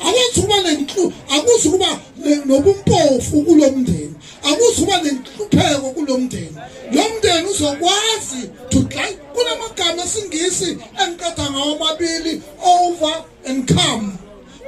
akwenzi ukuba nenhlu akuzi ukuba nobumpofu kulo mndeni akuzi ukuba nenhlupheko kulo mndeni lo mndeni uzokwazi to try kunamagama esingisi engiqeda ngawo amabili over and come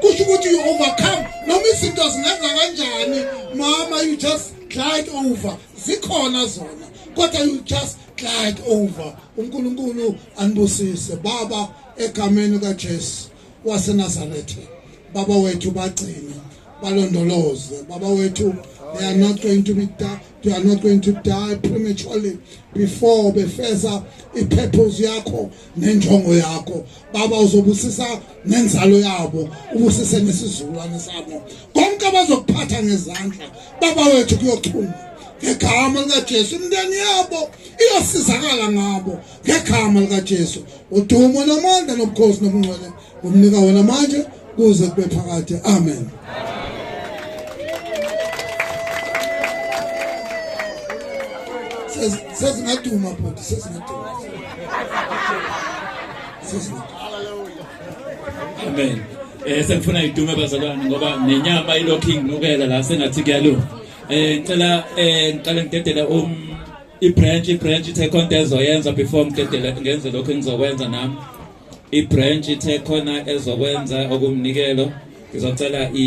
kusho ukuthi you overcome noma izinto zingenza kanjani mama you just glide over zikhona zona kodwa you just glide over uNkulunkulu anibusise baba egameni kaJesu waseNazaretha baba wethu bagcine balondoloze baba wethu they are not going to be die, they are not going to die prematurely before befeza i-purpose yakho nenjongo yakho baba uzobusisa nenzalo yabo ubusise nesizukulwane sabo konke abazokuphatha ngezandla baba wethu kuyochuma ngegama likaJesu imndeni yabo iyosizakala ngabo ngegama likaJesu udumo namandla nobukhosi nobungcwele umnika wena manje kuze kube phakade amen sezingaduma bhuti sezingaduma amen eh sengifuna idume bazalwane ngoba nenyama ilokhu ingilukela la sengathi kuyalunga eh ngicela eh ngiqale ngidedele um ibranch ibranch ithe khona into ezoyenza before ngidedele ngenze lokho engizokwenza nami ibranch ithe khona ezokwenza okumnikelo ngizocela i